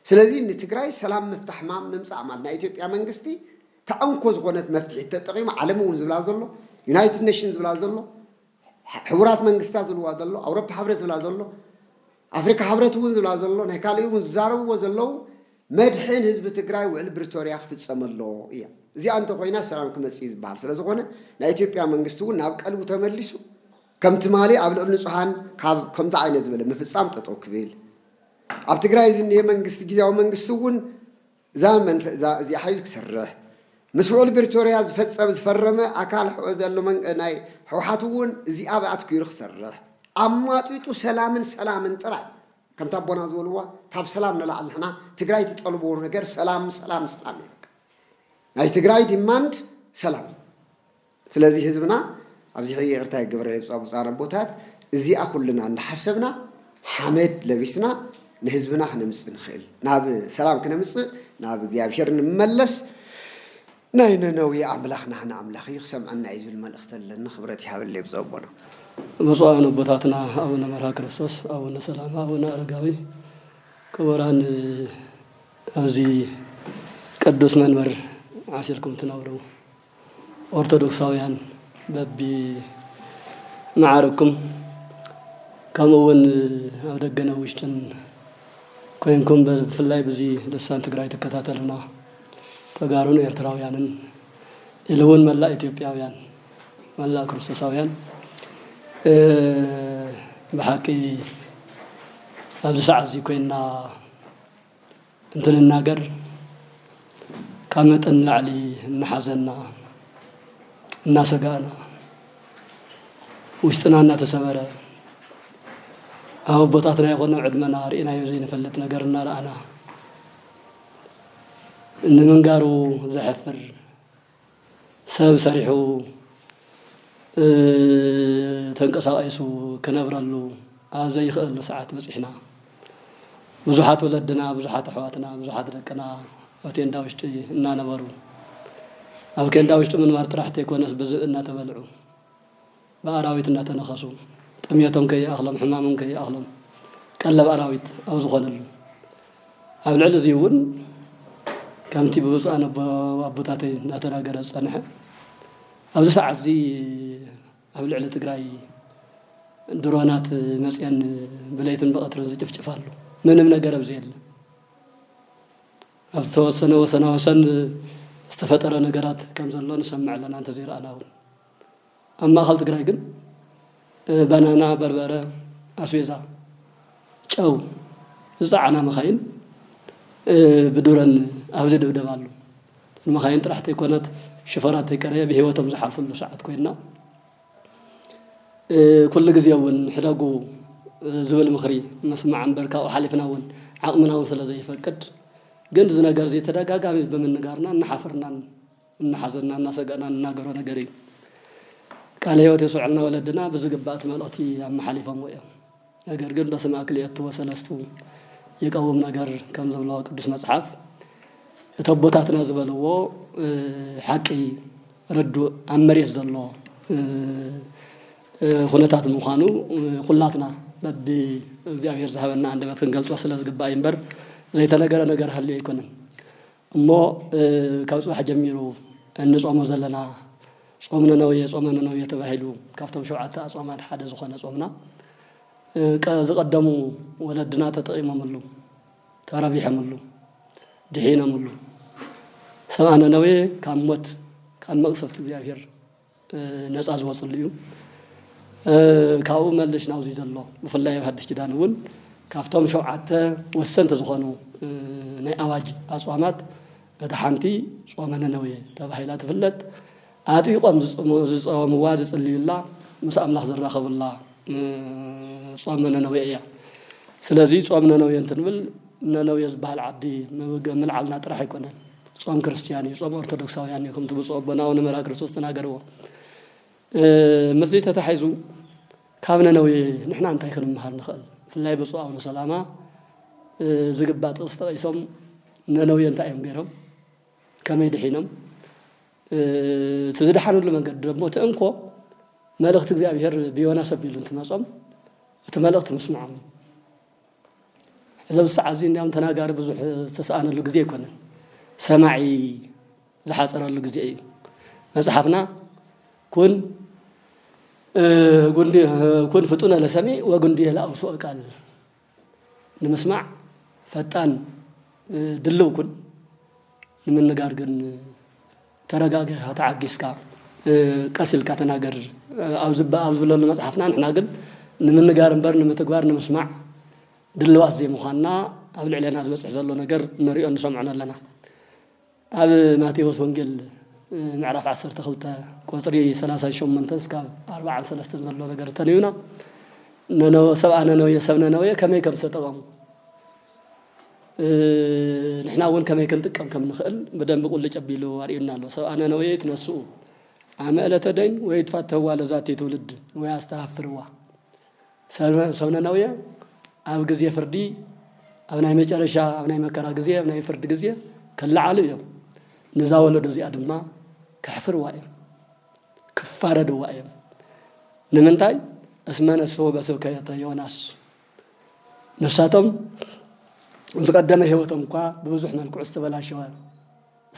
ስለዚ ንትግራይ ሰላም ምፍታሕ ማም ምምፃእ ማለት ናይ ኢትዮጵያ መንግስቲ እታ እንኮ ዝኾነት መፍትሒት ተጠቒሙ ዓለም እውን ዝብላ ዘሎ ዩናይትድ ኔሽን ዝብላ ዘሎ ሕቡራት መንግስታት ዝብልዋ ዘሎ ኣውሮፓ ሕብረት ዝብላ ዘሎ ኣፍሪካ ሕብረት እውን ዝብላ ዘሎ ናይ ካልእ እውን ዝዛረብዎ ዘለው መድሕን ህዝቢ ትግራይ ውዕል ብሪቶርያ ክፍፀመ ኣለዎ እያ እዚኣ እንተኮይና ሰላም ክመፅእ እዩ ዝበሃል ስለዝኾነ ናይ ኢትዮጵያ መንግስቲ እውን ናብ ቀልቡ ተመሊሱ ከም ትማሊ ኣብ ልዕሊ ንፁሃን ካብ ከምዚ ዓይነት ዝበለ ምፍፃም ጠጠው ክብል ኣብ ትግራይ ዝኒሀ መንግስቲ ጊዚያዊ መንግስቲ እውን እዛ መንፈ እዛ እዚኣ ሓይዙ ክሰርሕ ምስ ውዕል ብሪቶርያ ዝፈፀመ ዝፈረመ ኣካል ሕወ ዘሎ መን ናይ ሕውሓት እውን እዚኣ ብኣትኪሩ ክሰርሕ ኣማጢጡ ሰላምን ሰላምን ጥራይ ከምቲ ኣቦና ዝበልዋ ካብ ሰላም ንላዕሊ ንሕና ትግራይ ትጠልብዎ ነገር ሰላም ሰላም ሰላም እዩ በቃ ናይ ትግራይ ዲማንድ ሰላም እዩ ስለዚ ህዝብና ኣብዚ ሕይ ይቅርታ ይገበረለይ ብፁኣ ብፁኣን ኣቦታት እዚኣ ኩልና እንዳሓሰብና ሓመድ ለቢስና ንህዝብና ክነምፅእ ንኽእል ናብ ሰላም ክነምፅእ ናብ እግዚኣብሔር ንመለስ ናይ ነነዌ ኣምላኽ ናህና ኣምላኽ እዩ ክሰምዐና እዩ ዝብል መልእኽቲ ኣለኒ ክብረት ይሃበለይ ብፁዕ ኣቦና ብፁዓን ኣቦታትና ኣቡነ መርሃ ክርስቶስ ኣቡነ ሰላም ኣቡነ ኣረጋዊ ክቡራን ኣብዚ ቅዱስ መንበር ዓሲልኩም ትነብሩ ኦርቶዶክሳውያን በቢ መዓርግኩም ከምኡ እውን ኣብ ደገነ ውሽጥን ኮይንኩም ብፍላይ ብዙ ልሳን ትግራይ ትከታተሉና ተጋሩን ኤርትራውያንን ኢሉ እውን መላእ ኢትዮጵያውያን መላእ ክርስቶሳውያን ብሓቂ ኣብዚ ሰዓት እዚ ኮይንና እንትንናገር ካብ መጠን ንላዕሊ እናሓዘና እናሰጋእና ውሽጥና እናተሰበረ ኣብ ኣቦታትና ይኾነ ዕድመና ርኢናዮ ዘይንፈልጥ ነገር እናረኣና ንምንጋሩ ዘሕፍር ሰብ ሰሪሑ ተንቀሳቒሱ ክነብረሉ ኣብ ዘይኽእሉ ሰዓት በፂሕና። ብዙሓት ወለድና፣ ብዙሓት ኣሕዋትና፣ ብዙሓት ደቅና ኣብ ቴንዳ ውሽጢ እናነበሩ ኣብ ኬንዳ ውሽጢ ምንባር ጥራሕ ተይኮነስ ብዝብኢ እናተበልዑ ብኣራዊት እናተነኸሱ፣ ጥምየቶም ከይኣኽሎም ሕማሞም ከይኣኽሎም ቀለብ ኣራዊት ኣብ ዝኾነሉ፣ ኣብ ልዕሊ እዚ እውን ከምቲ ብብፁዓን ኣቦ ኣቦታተይ እናተናገረ ዝፀንሐ ኣብዚ ሰዓት እዚ ኣብ ልዕሊ ትግራይ ድሮናት መፅየን ብለይትን ብቐትርን ዝጭፍጭፍ ኣሎ ምንም ነገር ኣብዚ የለ ኣብ ዝተወሰነ ወሰና ወሰን ዝተፈጠረ ነገራት ከም ዘሎ ንሰምዕ ኣለና እንተዘይረኣና እውን ኣብ ማእኸል ትግራይ ግን ባናና፣ በርበረ፣ ኣስቤዛ፣ ጨው ዝፀዓና መኻይን ብዱረን ኣብዚ ድብደባ ኣሎ። ንመኻይን ጥራሕ ተይኮነት ሽፈራት ተይቀረየ ብህይወቶም ዝሓልፍሉ ሰዓት ኮይና ኩሉ ግዜ እውን ሕደጉ ዝብል ምኽሪ መስማዕ እምበር ካብኡ ሓሊፍና እውን ዓቕምና እውን ስለ ዘይፈቅድ ግን እዚ ነገር እዚ ተደጋጋሚ ብምንጋርና እናሓፍርናን እናሓዘና እናሰገእና ንናገሮ ነገር እዩ። ቃለ ህይወት የስመዐልና ወለድና ብዝግባእ እቲ መልእኽቲ ኣመሓሊፎምዎ እዮም። ነገር ግን በስመ ክልኤቱ ወሰለስቱ ይቀውም ነገር ከም ዝብሎ ቅዱስ መፅሓፍ እቲ ኣቦታትና ዝበልዎ ሓቂ ርዱእ ኣብ መሬት ዘሎ ኩነታት ምዃኑ ኩላትና በቢ እግዚኣብሔር ዝሃበና ኣንደበት ክንገልፆ ስለ ዝግባእ እዩ እምበር ዘይተነገረ ነገር ሃልዩ ኣይኮነን። እሞ ካብ ጽባሕ ጀሚሩ እንጾሞ ዘለና ጾም ነነዌ፣ ጾመ ነነዌ ተባሂሉ ካብቶም ሸውዓተ ኣጽዋማት ሓደ ዝኾነ ጾምና ዝቐደሙ ወለድና ተጠቒሞምሉ፣ ተረቢሖምሉ፣ ድሒኖምሉ። ሰብኣ ነነዌ ካብ ሞት፣ ካብ መቕሰፍቲ እግዚኣብሄር፣ ነጻ ዝወጽሉ እዩ። ካብኡ መለሽ ናብዚ ዘሎ ብፍላይ ኣብ ሓድሽ ኪዳን እውን ካብቶም ሸውዓተ ወሰንቲ ዝኾኑ ናይ ኣዋጅ ኣጽዋማት እታ ሓንቲ ጾመ ነነዌ ተባሂላ ትፍለጥ። ኣጥቢቆም ዝጸወምዋ ዝጽልዩላ ምስ ኣምላኽ ዝራኸቡላ ጾመ ነነዌ እያ። ስለዚ ጾም ነነዌ እንትንብል ነነዌ ዝበሃል ዓዲ ምልዓልና ጥራሕ ኣይኮነን። ጾም ክርስትያን እዩ፣ ጾም ኦርቶዶክሳውያን እዩ ከምቲ ብፁዕ ኣቦና ኣቡነ መርሃ ክርስቶስ ተናገርዎ። ምስዚ ተታሒዙ ካብ ነነዌ ንሕና እንታይ ክንምሃር ንኽእል? ብፍላይ ብፁዕ ኣቡነ ሰላማ ዝግባእ ጥቕሲ ጠቒሶም ነነዌ እንታይ እዮም ገይሮም ከመይ ድሒኖም እቲ ዝደሓንሉ መንገዲ ደሞ እቲ እንኮ መልእኽቲ እግዚኣብሔር ብዮናስ ኣቢሉ እንትመጾም እቲ መልእኽቲ ምስምዖም እዩ እዚ ኣብዚ ሰዓት እዚ እንዲያውም ተናጋሪ ብዙሕ ዝተሰኣነሉ ግዜ ኣይኮነን፣ ሰማዒ ዝሓፀረሉ ግዜ እዩ። መፅሓፍና ኩን ኩን ፍጡነ ለሰሚ ወግንዱየ ለአውስኦ ቃል ንምስማዕ ፈጣን ድልው ኩን ንምንጋር ግን ተረጋገ ኢኻ ተዓጊስካ ቀስ ኢልካ ተናገር ኣብ ዝብለሉ መፅሓፍና ንሕና ግን ንምንጋር እምበር ንምትግባር ንምስማዕ ድልዋት ዘይምዃንና ኣብ ልዕለና ዝበፅሕ ዘሎ ነገር ንሪኦ ንሰምዖን ኣለና ኣብ ማቴዎስ ወንጌል ምዕራፍ 12 ቁፅሪ 38 እስካብ 43 ዘሎ ነገር ተንብና ነነወ ሰብኣ ነነወ ሰብ ነነወ ከመይ ከም ዝተጠቐሙ ንሕና እውን ከመይ ክንጥቀም ከም ንኽእል ብደንቢ ቁልጭ ኣቢሉ ኣርእዩና ኣሎ። ሰብኣ ነነዌ ትነስኡ ኣመ ዕለተ ደይን ወይ ትፋተዋ ለዛቲ ትውልድ ወይ ኣስተሃፍርዋ ሰብ ነነዌ ኣብ ግዜ ፍርዲ ኣብ ናይ መጨረሻ ኣብ ናይ መከራ ግዜ ኣብ ናይ ፍርዲ ግዜ ክለዓሉ እዮም ንዛ ወለዶ እዚኣ ድማ ከሕፍርዋ እዮም ክፋረድዋ እዮም ንምንታይ እስመ ነስሑ በስብከተ ዮናስ ንሳቶም ዝቐደመ ህይወቶም እኳ ብብዙሕ መልክዑ ዝተበላሸወ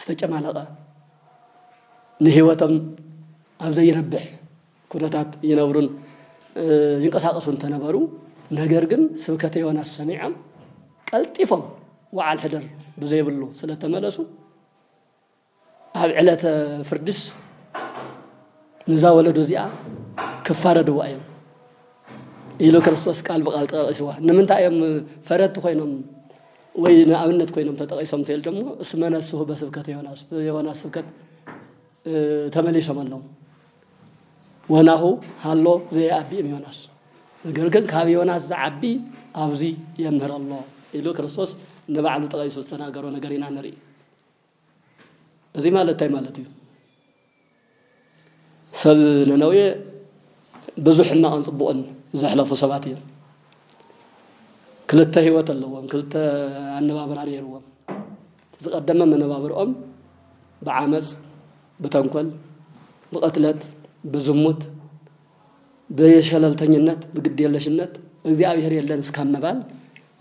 ዝተጨማለቐ ንህይወቶም ኣብ ዘይነብሕ ኩነታት ይነብሩን ይንቀሳቐሱ እንተነበሩ ነገር ግን ስብከተ ዮናስ ሰሚዖም ቀልጢፎም ወዓል ሕደር ብዘይብሉ ስለተመለሱ ኣብ ዕለተ ፍርድስ ንዛ ወለዶ እዚኣ ክፋረድዋ እዮም ኢሉ ክርስቶስ ቃል ብቃል ጠቂስዋ ንምንታይ እዮም ፈረድቲ ኮይኖም ወይ ንኣብነት ኮይኖም ተጠቂሶም ትል ደሞ እስመ ነስሁ በስብከት ዮናስ ብዮናስ ስብከት ተመሊሶም ኣለዉ ወናሁ ሃሎ ዘየኣቢ እም ዮናስ ነገር ግን ካብ ዮናስ ዝዓቢ ኣብዚ የምህር ኣሎ ኢሉ ክርስቶስ ንባዕሉ ጠቂሱ ዝተናገሮ ነገር ኢና ንርኢ እዚ ማለት እንታይ ማለት እዩ? ሰብ ነነዌ ብዙሕ ሕማቕን ጽቡቕን ዘሕለፉ ሰባት እዮም። ክልተ ህይወት ኣለዎም፣ ክልተ ኣነባብራ ነይርዎም። ዝቐደመ መነባብርኦም ብዓመፅ፣ ብተንኮል፣ ብቕትለት፣ ብዝሙት፣ ብሸለልተኝነት፣ ብግድየለሽነት እግዚኣብሔር የለን እስካብ ምባል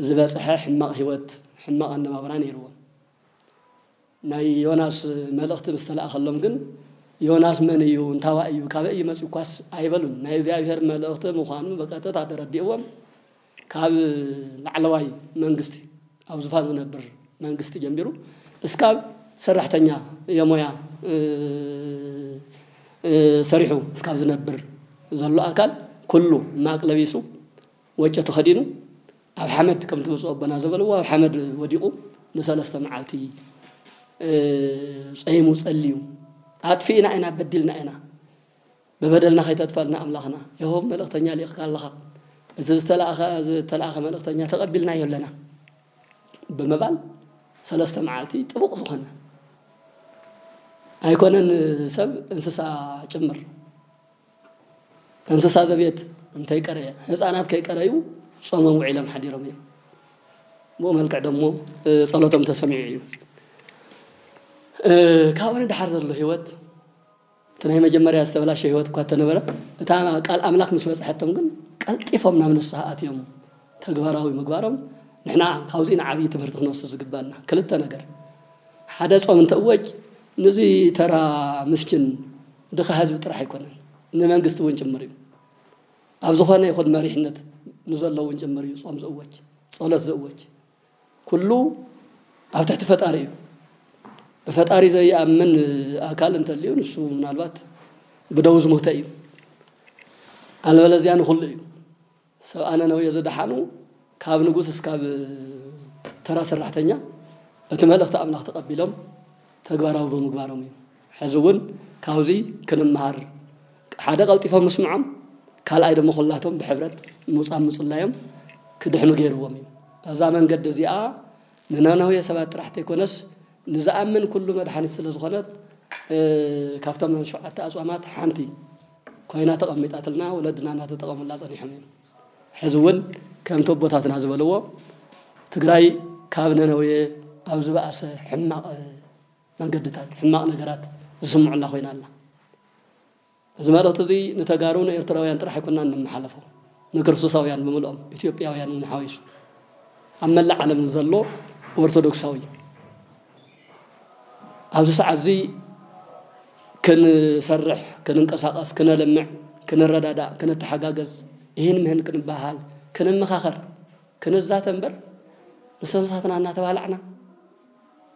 ዝበፅሐ ሕማቕ ህይወት፣ ሕማቕ ኣነባብራ ነይርዎም። ናይ ዮናስ መልእኽቲ ምስ ተላእከሎም ግን ዮናስ መን እዩ እንታዋይ እዩ ካበይ እዩ መፅኡ እኳስ ኣይበሉን። ናይ እግዚኣብሔር መልእኽቲ ምዃኑ ብቀጥታ ተረዲእዎም ካብ ላዕለዋይ መንግስቲ ኣብ ዙፋን ዝነብር መንግስቲ ጀሚሩ እስካብ ሰራሕተኛ የሞያ ሰሪሑ እስካብ ዝነብር ዘሎ ኣካል ኩሉ ማቅ ለቢሱ ወጮ ተኸዲኑ ኣብ ሓመድ ከም ትመጽኡ ኣቦና ዘበልዎ ኣብ ሓመድ ወዲቑ ንሰለስተ መዓልቲ ጸይሙ ጸልዩ ኣጥፊእና ኢና በዲልና ኢና ብበደልና ከይተጥፈልና ኣምላኽና የሆብ መልእኽተኛ ሊቕካ ኣለኻ እቲ ዝተላእኸ መልእኽተኛ ተቐቢልናዮ ኣለና ብምባል ሰለስተ መዓልቲ ጥቡቕ ዝኾነ ኣይኮነን ሰብ እንስሳ ጭምር እንስሳ ዘቤት እንተይቀረየ ህፃናት ከይቀረዩ ጾሞም ውዒሎም ሓዲሮም እዮም ብኡ መልክዕ ደሞ ጸሎቶም ተሰሚዑ እዩ ካብኡ ንድሓር ዘሎ ህይወት እቲ ናይ መጀመርያ ዝተበላሸ ህይወት እኳ እተነበረ እታ ቃል ኣምላኽ ምስ በፅሐቶም ግን ቀልጢፎም ናብ ንስሓ ኣትዮም ተግባራዊ ምግባሮም ንሕና ካብዚ ንዓብዪ ትምህርቲ ክንወስድ ዝግባና ክልተ ነገር ሓደ ጾም እንተእወጅ ንዚ ተራ ምስኪን ድኻ ህዝቢ ጥራሕ ኣይኮነን ንመንግስቲ እውን ጭምር እዩ። ኣብ ዝኾነ ይኹን መሪሕነት ንዘሎ እውን ጭምር እዩ ፆም ዝእወጅ፣ ፀሎት ዝእወጅ። ኩሉ ኣብ ትሕቲ ፈጣሪ እዩ። ብፈጣሪ ዘይኣምን ኣካል እንተልዩ ንሱ ምናልባት ብደዉ ዝሞተ እዩ። ኣልበለዚያ ንኹሉ እዩ። ሰብኣ ነነዌ ዝደሓኑ ካብ ንጉስ እስካብ ተራ ሰራሕተኛ እቲ መልእኽቲ ኣምላኽ ተቐቢሎም ተግባራዊ ብምግባሮም እዩ። ሕዚ እውን ካብዚ ክንመሃር ሓደ ቀልጢፎም ምስምዖም ካልኣይ ደሞ ኩላቶም ብሕብረት ምውጻም ምጽላዮም ክድሕኑ ገይርዎም እዩ። እዛ መንገዲ እዚኣ ንነነዌ ሰባት ጥራሕ ተይኮነስ ንዝኣምን ኩሉ መድሓኒት ስለዝኾነት ካብቶም ሸውዓተ ኣጽዋማት ሓንቲ ኮይና ተቐሚጣትልና ወለድና እናተጠቐሙላ ፀኒሖም እዮም። ሕዚ እውን ከምቲ ኣቦታትና ዝበልዎ ትግራይ ካብ ነነዌ ኣብ ዝበኣሰ ሕማቕ መንገድታት ሕማቕ ነገራት ዝስምዑላ ኮይና ኣላ። እዚ መልእኽቲ እዚ ንተጋሩ ንኤርትራውያን ጥራሕ ኣይኮናን ንመሓለፎ ንክርስቶሳውያን ብምልኦም ኢትዮጵያውያን እውን ሓዊሱ ኣብ መላእ ዓለም ንዘሎ ኦርቶዶክሳዊ ኣብዚ ሰዓት እዚ ክንሰርሕ፣ ክንንቀሳቐስ፣ ክነልምዕ፣ ክንረዳዳእ፣ ክንተሓጋገዝ፣ ይህን ምህን ክንበሃል፣ ክንመኻኸር፣ ክንዛተ እምበር ንሰንሳትና እናተባላዕና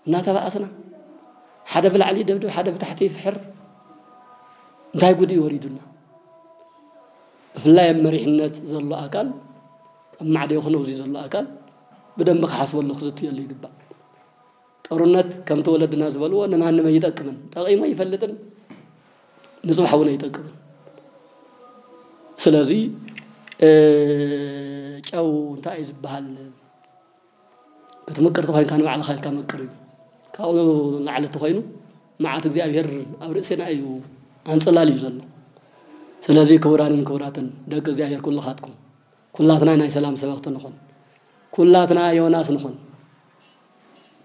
እናተባእስና ሓደ ብላዕሊ ይደብድብ ሓደ ብታሕቲ ይፍሕር እንታይ ጉድ እዩ ወሪዱና? ብፍላይ ኣብ መሪሕነት ዘሎ ኣካል ኣብ ማዕደ ይኹን ኣብዚ ዘሎ ኣካል ብደንቢ ክሓስበሉ ክዝትየሉ ይግባእ። ጦርነት ከምቲ ወለድና ዝበልዎ ንማንም ኣይጠቅምን፣ ጠቒሙ ኣይፈልጥን፣ ንፅባሕ እውን ኣይጠቅምን። ስለዚ ጨው እንታይ እዩ ዝበሃል ክትምቅር ተኮይንካ ንባዕልኻ ኢልካ መቅር እዩ ካብኡ ላዕሊ ተኮይኑ መዓት እግዚኣብሔር ኣብ ርእሴና እዩ ኣንፅላል እዩ ዘሎ ስለዚ ክቡራንን ክቡራትን ደቂ እግዚኣብሔር ኩልኻትኩም ኩላትና ናይ ሰላም ሰበኽቲ ንኹን። ኩላትና ዮናስ ንኹን።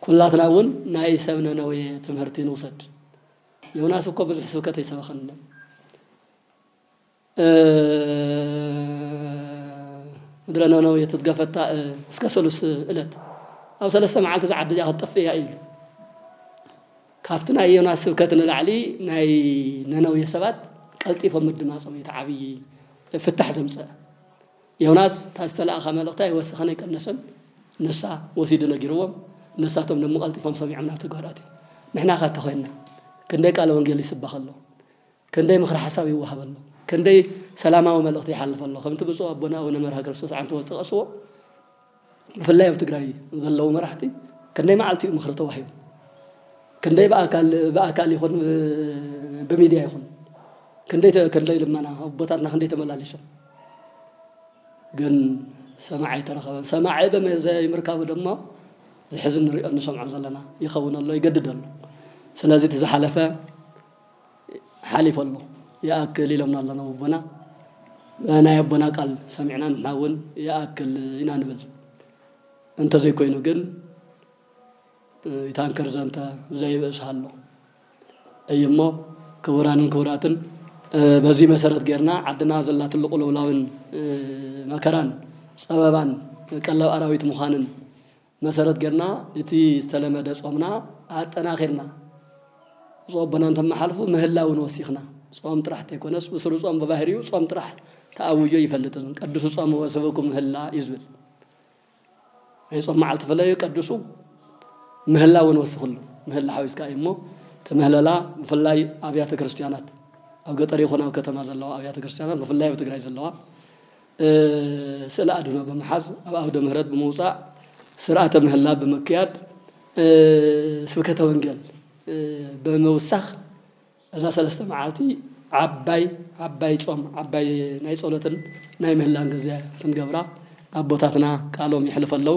ኩላትና እውን ናይ ሰብ ነነዌ ትምህርቲ ንውሰድ። ዮናስ እኮ ብዙሕ ስብከት ኣይሰበኸንሎም። ምድረ ነነዌ ትትገፈታ እስከ ሰሉስ እለት ኣብ ሰለስተ መዓልቲ ዝዓዲ እዚኣ ክትጠፍእ እያ እዩ ካብቲ ናይ ዮናስ ስብከት ንላዕሊ ናይ ነነዌ ሰባት ቀልጢፎም ምድማጾም እዩ እቲ ዓብዪ ፍታሕ ዘምጸእ። ዮናስ እታ ዝተላእኻ መልእኽቲ ኣይወሰኸን ኣይቀነሰን ንሳ ወሲዱ ነጊርዎም ንሳቶም ደሞ ቀልጢፎም ሰሚዖም ናብ ተግባር ኣትዮም። ንሕናኸ እንተኾይንና ክንደይ ቃለ ወንጌል ይስበኽ ኣሎ ክንደይ ምኽረ ሓሳብ ይወሃብ ኣሎ ክንደይ ሰላማዊ መልእኽቲ ይሓልፍ ኣሎ ከምቲ ብፁዕ ኣቦና ኣቡነ መርሃ ክርስቶስ ዓንተቦ ዝጠቐስዎ ብፍላይ ኣብ ትግራይ ዘለዉ መራሕቲ ክንደይ መዓልቲ እዩ ምኽሪ ተዋሂቡ ክንደይ ብኣካል ብኣካል ይኹን ብሚድያ ይኹን ክንደይ ክንደይ ልመና ኣቦታትና ክንደይ ተመላሊሶም ግን ሰማዕ ኣይተረኸበን። ሰማዒ ዘይምርካቡ ድማ ዝሕዝን ንሪኦ ንሰምዖ ዘለና ይኸውን ኣሎ ይገድድ ኣሎ። ስለዚ እቲ ዝሓለፈ ሓሊፉ ኣሎ ይኣክል ኢሎምና ኣሎ ኣቦና ናይ ኣቦና ቃል ሰሚዕና ንሕና እውን ይኣክል ኢና ንብል እንተዘይኮይኑ ግን ታንከር ዘንተ ዘይብእስ ኣሎ እዩ እሞ ክቡራንን ክቡራትን በዚ መሰረት ጌርና ዓድና ዘላትሉ ቁልውላውን መከራን ፀበባን ቀለብ ኣራዊት ምዃንን መሰረት ገርና እቲ ዝተለመደ ጾምና ኣጠናኺርና ብፁዕ ኣቦና እንተመሓልፉ ምህላ እውን ወሲኽና ጾም ጥራሕ ተይኮነስ ብስሩ ጾም ብባህሪኡ ጾም ጥራሕ ተኣውጆ ኣይፈልጥን ቀድሱ ጾም ወስብኩም ምህላ እዩ ዝብል ናይ ጾም መዓልቲ ፍለዩ ቀድሱ ምህላ እውን ወስኽሉ ምህላ ሓዊስካ እዩ እሞ ተምህለላ ብፍላይ ኣብያተ ክርስቲያናት ኣብ ገጠር ይኹን ኣብ ከተማ ዘለዋ ኣብያተ ክርስቲያናት ብፍላይ ኣብ ትግራይ ዘለዋ ስእለ ኣድህኖ ብምሓዝ ኣብ ኣውደ ምህረት ብምውፃእ ስርዓተ ምህላ ብምክያድ ስብከተ ወንጌል ብምውሳኽ እዛ ሰለስተ መዓልቲ ዓባይ ዓባይ ፆም ዓባይ ናይ ፀሎትን ናይ ምህላን ግዘ ክንገብራ ኣቦታትና ቃሎም የሕልፉ ኣለው።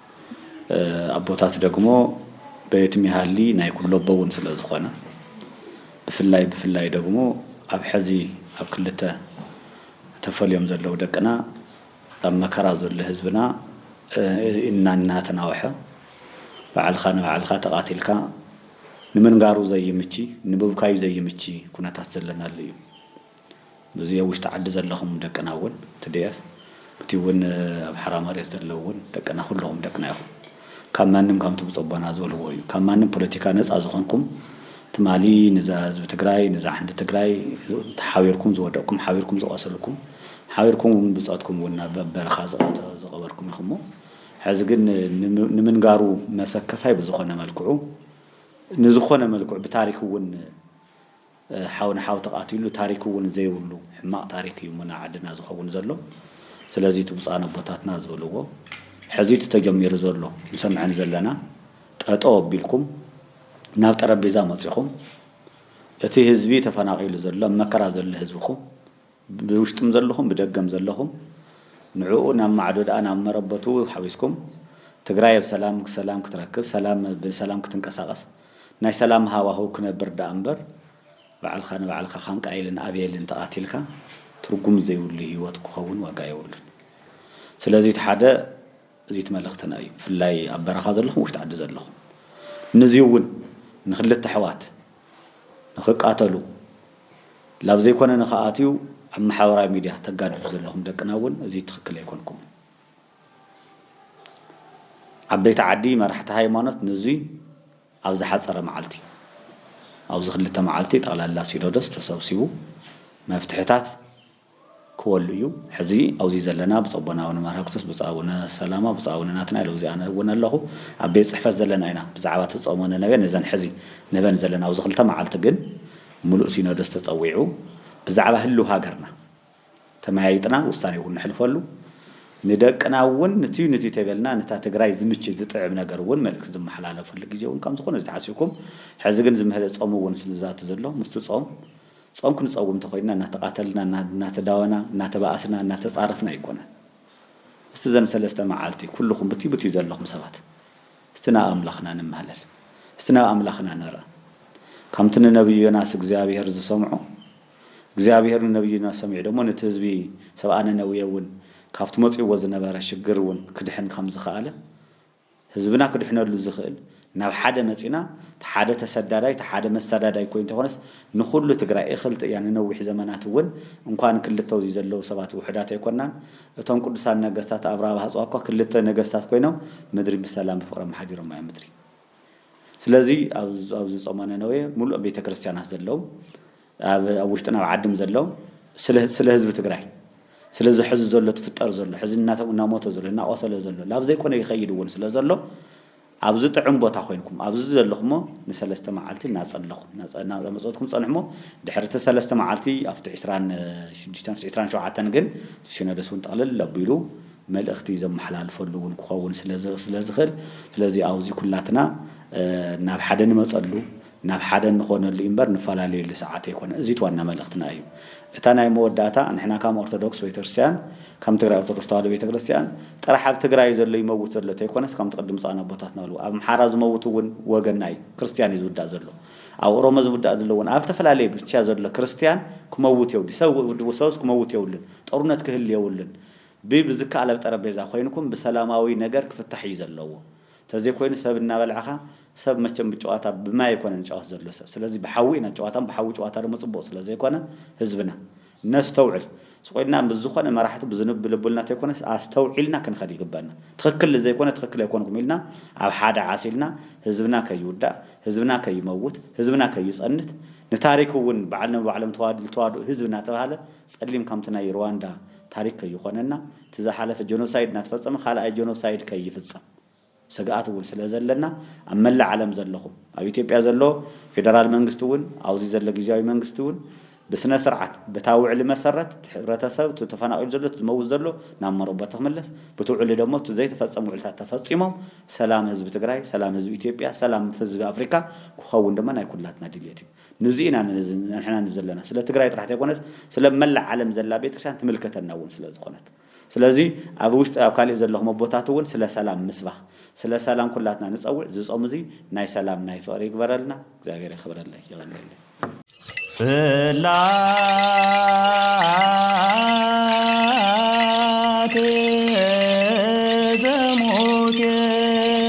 ኣቦታት ደግሞ በየትም ይሃሊ ናይ ኩሎቦ እውን ስለ ዝኾነ ብፍላይ ብፍላይ ደግሞ ኣብ ሐዚ ኣብ ክልተ ተፈልዮም ዘለዉ ደቅና ኣብ መከራ ዘሎ ህዝብና እናተናወሐ ባዕልኻ ንባዕልኻ ተቓቲልካ ንምንጋሩ ዘይምቺ ንብብካዩ ዘይምቺ ኩነታት ዘለናሉ እዩ። በዚ ኣብ ውሽጢ ዓዲ ዘለኹም ደቅና እውን ትዲኤፍ ብቲ እውን ኣብ ሓራ መሬት ዘለዉ እውን ደቅና ኩለኹም ደቅና ኢኹም ካብ ማንም ከምቲ ብፆቦና ዝበልዎ እዩ ካብ ማንም ፖለቲካ ነፃ ዝኾንኩም ትማሊ ንዛ ህዝቢ ትግራይ ንዛ ሓንቲ ትግራይ ሓቢርኩም ዝወደቅኩም ሓቢርኩም ዝቆሰልኩም ሓቢርኩም እውን ብፆትኩም እውን ናብ በረኻ ዝቐበርኩም ኢኹሞ ሕዚ ግን ንምንጋሩ መሰከፋይ ብዝኾነ መልክዑ ንዝኾነ መልክዑ ብታሪክ እውን ሓው ንሓው ተቃቲሉ ታሪክ እውን ዘይብሉ ሕማቅ ታሪክ እዩ እሞ ንዓድና ዝከውን ዘሎ ስለዚ እቲ ብፁኣን ኣቦታትና ዝበልዎ ሕዚ እቲ ተጀሚሩ ዘሎ ንሰምዐን ዘለና ጠጠው ኣቢልኩም ናብ ጠረቤዛ መፂኹም እቲ ህዝቢ ተፈናቂሉ ዘሎ ኣብ መከራ ዘሎ ህዝብኩም ብውሽጥም ዘለኹም ብደገም ዘለኹም ንዑኡ ናብ ማዕዶ ድኣ ናብ መረበቱ ሓዊስኩም ትግራይ ኣብ ሰላም ሰላም ክትረክብ ሰላም ብሰላም ክትንቀሳቀስ ናይ ሰላም ሃዋህው ክነብር ድኣ እምበር ባዕልኻ ንባዕልኻ ካን ቃይልን ኣቤልን ተቃቲልካ ትርጉም ዘይብሉ ሂወት ክኸውን ዋጋ የብሉን ስለዚ እቲ ሓደ እዚት መልእኽትና እዩ ብፍላይ ኣብ በረኻ ዘለኹም ውሽጢ ዓዲ ዘለኹም ንዚዩ እውን ንክልተ ኣሕዋት ንክቃተሉ ላብ ዘይኮነ ንክኣትዩ ኣብ መሓበራዊ ሚድያ ተጋድዱ ዘለኹም ደቅና እውን እዚ ትክክል ኣይኮንኩምን ዓበይቲ ዓዲ መራሕቲ ሃይማኖት ንዙይ ኣብ ዝሓፀረ መዓልቲ ኣብዚ ክልተ መዓልቲ ጠቕላላ ሲኖዶስ ተሰብሲቡ መፍትሕታት ክወሉ እዩ ሕዚ ኣውዚ ዘለና ብጾ ቦና ኣውነ ማራክቶስ ብጾ ኣውነ ሰላማ ብጾ ኣውነ ናትናኤል ኣውዚ ኣነ እወን ኣለኹ ኣብ ቤት ጽሕፈት ዘለና ኢና ብዛዕባ እቲ ጾመ ነነቤ ነዘን ሕዚ ነበን ዘለና ኣውዚ ክልተ መዓልቲ ግን ምሉእ ሲኖዶስ ተጸዊዑ ብዛዕባ ህልው ሃገርና ተመያይጥና ውሳኔ እውን ንሕልፈሉ ንደቅና እውን ንትዩ ንትዩ ተይበልና ንታ ትግራይ ዝምች ዝጥዕም ነገር እውን መልእክቲ ዝመሓላለፈሉ ግዜ እውን ከም ዝኾነ እዚ ተሓሲብኩም ሕዚ ግን ዝምህለ ጾም እውን ስልዛቲ ዘሎ ምስቲ ጾም ጾም ክንጸውም እንተኾይንና እናተቓተልና፣ እናተዳወና፣ እናተባኣስና፣ እናተጻረፍና ኣይኮነን። እስቲ እዘን ሰለስተ መዓልቲ ኩሉኹም ብትይ ብትይ ዘለኹም ሰባት እስቲ ናብ ኣምላኽና ንማህለል። እስቲ ናብ ኣምላኽና ንርኣ። ከምቲ ንነብዩ ዮናስ እግዚኣብሄር ዝሰምዖ፣ እግዚኣብሄር ንነብዩ ዮናስ ሰሚዑ ደሞ ነቲ ህዝቢ ሰብኣ ነነዌ እውን ካብቲ መጺኡዎ ዝነበረ ሽግር እውን ክድሕን ከም ዝኸኣለ ህዝብና ክድሕነሉ ዝኽእል ናብ ሓደ መጺና ተሓደ ተሰዳዳይ ተሓደ መሳዳዳይ ኮይኑ ተኾነስ ንኹሉ ትግራይ እኽልት እያ ንነዊሕ ዘመናት እውን እንኳን ክልተ ውዚ ዘለዉ ሰባት ውሕዳት ኣይኮናን እቶም ቅዱሳን ነገስታት ኣብርሃ ብሃጽዋ እኳ ክልተ ነገስታት ኮይኖም ምድሪ ብሰላም ብፍቕሪ ኣመሓዲሮማ እዮም ምድሪ ስለዚ ኣብዚ ጾመ ነነዌ ሙሉእ ቤተክርስትያናት ዘለዉ ኣብ ኣብ ውሽጥን ኣብ ዓድም ዘሎ ስለ ስለ ህዝቢ ትግራይ ስለ እዚ ሕዚ ዘሎ ትፍጠር ዘሎ ሕዚ እናሞተ ዘሎ እናቆሰለ ዘሎ ላብ ዘይኮነ ይኸይድ እውን ስለ ዘሎ ኣብዚ ጥዕም ቦታ ኮይንኩም ኣብዚ ዘለኹሞ ንሰለስተ መዓልቲ እናጸለኹም እናመጸትኩም ጸንሕሞ ድሕሪ እቲ ሰለስተ መዓልቲ ኣብቲ ዕስራን ሽዱሽተን ኣብቲ ዕስራን ሸውዓተን ግን ሲኖዶስ እውን ጠቕልል ኣቢሉ መልእኽቲ ዘመሓላልፈሉ እውን ክኸውን ስለ ዝኽእል ስለዚ ኣብዚ ኩላትና ናብ ሓደ ንመጸሉ ናብ ሓደ እንኾነሉ እዩምበር ንፈላለየሉ ሰዓት ኣይኮነን እዙይ ዋና መልእኽትና እዩ እታ ናይ መወዳእታ ንሕና ካም ኦርቶዶክስ ቤተክርስትያን ካም ትግራይ ኦርቶዶክስ ተዋህዶ ቤተክርስትያን ጥራሕ ኣብ ትግራይ እዩ ዘሎ ይመውት ዘሎ ተይኮነስ ካምቲ ቅድም ብፁዓን ኣቦታትና በልዎ ኣብ ኣምሓራ ዝመውት እውን ወገንና እዩ ክርስትያን እዩ ዝውዳእ ዘሎ ኣብ ኦሮሞ ዝውዳእ ዘሎ እውን ኣብ ዝተፈላለየ ብቻ ዘሎ ክርስትያን ክመውት የውዲ ሰብ ሰብስ ክመውት የውልን ጦርነት ክህሊ የውልን ብ ብዝከኣል ኣብ ጠረጴዛ ኮይንኩም ብሰላማዊ ነገር ክፍታሕ እዩ ዘለዎ ተዘይኮይኑ ሰብ እናበልዕኻ ሰብ መቸም ብጨዋታ ብማይ ኣይኮነን ዝጨዋት ዘሎ ሰብ ስለዚ ብሓዊ ኢና ጨዋታን ብሓዊ ጨዋታ ደሞ ፅቡቅ ስለዘይኮነ ህዝብና ነስተውዕል ስቆይልና ምስ ዝኾነ መራሕቲ ብዝንብ ብልቡልና ተይኮነስ ኣስተውዒልና ክንኸድ ይግበና ትኽክል ልዘይኮነ ትኽክል ኣይኮንኩም ኢልና ኣብ ሓደ ዓሲልና ህዝብና ከይውዳእ ህዝብና ከይመውት ህዝብና ከይፀንት ንታሪክ እውን ባዕል ንባዕሎም ተዋድኡ ተዋድኡ ህዝቢ እናተብሃለ ፀሊም ከምቲ ናይ ርዋንዳ ታሪክ ከይኾነና እቲ ዝሓለፈ ጀኖሳይድ እናተፈፀመ ካልኣይ ጀኖሳይድ ከይፍፀም ስግኣት እውን ስለዘለና ኣብ መላእ ዓለም ዘለኹም ኣብ ኢትዮጵያ ዘሎ ፌደራል መንግስቲ እውን ኣብዚ ዘሎ ጊዚያዊ መንግስቲ እውን ብስነስርዓት በታ ውዕሊ መሰረት እቲ ሕብረተሰብ እቲ ተፈናቒሉ ዘሎ እቲ ዝመውት ዘሎ ናብ መረበቱ ክምለስ በቲ ውዕሊ ደሞ እቲ ዘይተፈፀሙ ውዕልታት ተፈፂሞም ሰላም ህዝቢ ትግራይ ሰላም ህዝቢ ኢትዮጵያ ሰላም ህዝቢ ኣፍሪካ ክኸውን ድማ ናይ ኩላትና ድልየት እዩ። ንዙይ ኢና ንሕና ንዘለና ስለ ትግራይ ጥራሕ ተይኮነስ ስለ መላእ ዓለም ዘላ ቤተክርስትያን ትምልከተና እውን ስለ ዝኾነት ስለዚ ኣብ ውሽጢ ኣብ ካሊእ ዘለኹም ኣቦታት እውን ስለ ሰላም ምስባኽ ስለ ሰላም ኩላትና ንፀውዕ እዚ ፆም እዙይ ናይ ሰላም ናይ ፍቕሪ ይግበረልና እግዚኣብሔር የኽብረለይ የቐንየለይ ጽላቴ ዘሙሴ